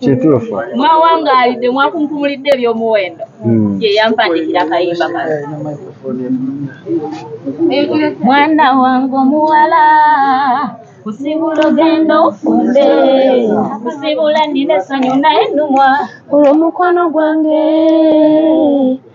kituufu mwawangaalidde mwakunkumulidde ebyomuwendo hmm. ye yampandikira kayimba kano mwana wange omuwala kusibula ogenda ofumbe kusibula nina essanyu naye numwa olwomukwano gwange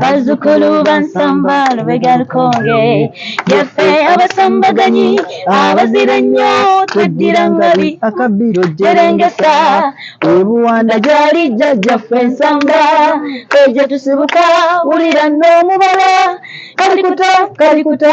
bazzukulu bansamba lubega lukonge yaffe abasambaganyi abazira ennyo tweddira ngabi akabbiro jerengesa ebuwanda gyali jjajjaffe ensamba egye tusibuka wulira n'omubala kalikuta kalikuta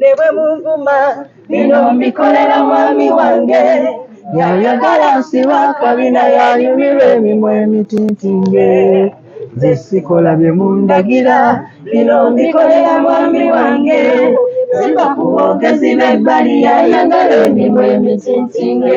ne bwe munvuma bino mbikolera mwami wange yayagala nsiba kabina yanyumirwa emimwa emitintinge nze sikola bye mundagira bino mbikolera mwami wange ziva ku boogezi b'ebbali yayagala emimwa emitintinge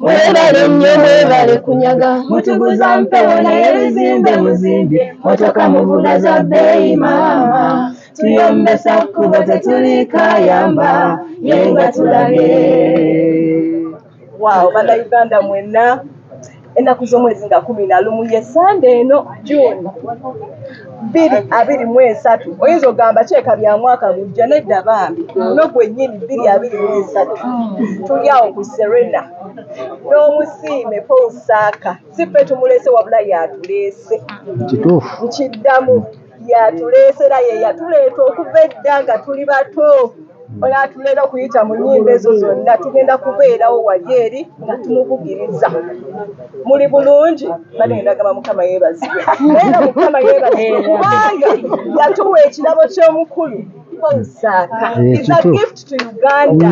Mwebale nnyo mwebale kunyaga mutuguza mpewo naye bizimbe muzimbye motoka muvuga za bbeeyi maama tuyombesa kkubo tetuliikayamba ye nga tulabye waawo bannayuganda mwenna ennaku z'omwezi nga kumi na lumu ye sande eno june bbiri abiri mu esatu oyinza ogamba kyeka bya mwaka gujja nedda bambi no gwennyini bbiri abiri mu esatu tuli awo ku serena n'omusiime paul saaka si ffe tumuleese wabula yatuleese kituufu nkiddamu yatuleese era ye yatuleeta okuva edda nga tuli bato olwatuleera okuyita mu nyimba ezo zonna tugenda kubeerawo wali eri nga tumubugiriza muli bulungi baneendagamba mukama yebazibwe era mukama yebazibwe kubanga yatuwa ekirabo ky'omukulu kukozesaaka is a gift to uganda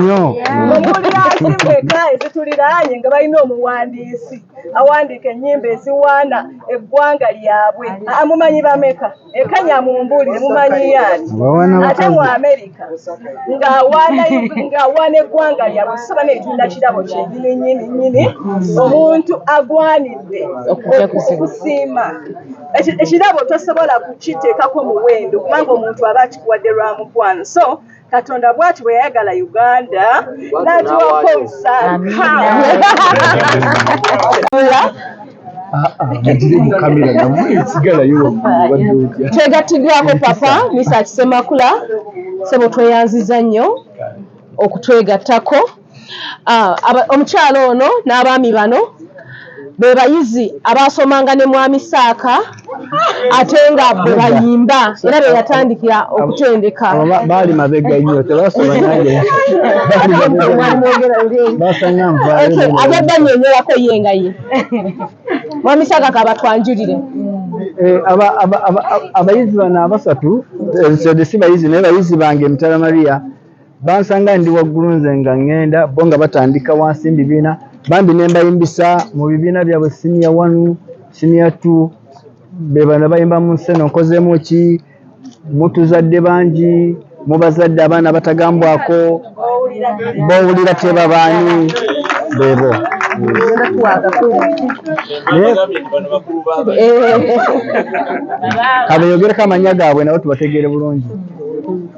omuli azimweka ezituliraanye nga balina omuwandiisi awandiika ennyimba eziwaana eggwanga lyabwe amumanyi bameka ekanya mumbuulire mumanyiyo ani ate mu amerika ng'awaana eggwanga lyabwe soba netunda kirabo kyeyininyininyini omuntu agwanidde okusiima ekirabo tosobola kukiteekako muwendo kubanga omuntu aba akikuwadde lwa mukwano so katonda bwati bwe yayagala uganda nagiwako omusakatwegatidwako papa misa kisemakula sebo tweyanziza nnyo okutwegattako Ah, aba- omukyala ono n'abaami bano be bayizi abaasomanga ne mwami Saaka ate nga bwe Nedda. bayimba era be yatandikira Abo- okutendeka abo ba- baali mabega nnyo tebasoma nange Baali mabega nnyo. Mwali mwogera eri eri. basanga nvaayo Okay, nebweru. abadde annyonnyolako ye nga ye mwami Saaka kabatwanjulire Eh, aba- aba- aba- aba- abayizi bano abasatu eh, so si bayizi naye bayizi bange mutala maria Bansanga ndi waggulu nze nga ŋŋenda, bo nga batandika wansi mu bibiina, bambi ne mbayimbisa mu bibiina byabwe siniya wanu, siniya tu, be bano bayimba mu nsi eno nkozeemu ki, mutuzadde bangi, mu bazadde abaana abatagambwako, b'owulira tebabaani, beebo. Kabeeyogereko amannya gaabwe nabo tubategeere bulungi.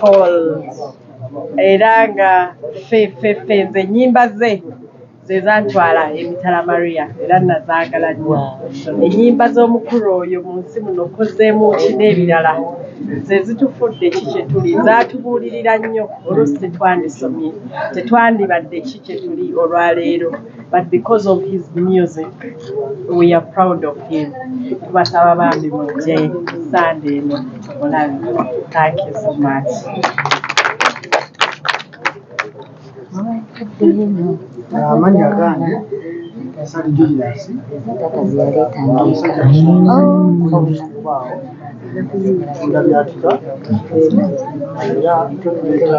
Paul era nga ffe ffe ffe nze ennyimba ze ze zantwala emitala Maria era nazaagala nnyo. Ennyimba z'omukulu oyo mu nsi muno Kozzeemu ki n'ebirala ze zitufudde ki kye tuli, zaatubuulirira nnyo oluusi tetwandisomye, tetwandibadde ki kye tuli olwaleero. but because of his music we are proud of him tubasaba bambi mujje sande eno olabi thank you so much amanya agange sali julius nga byatuka era tukuleeta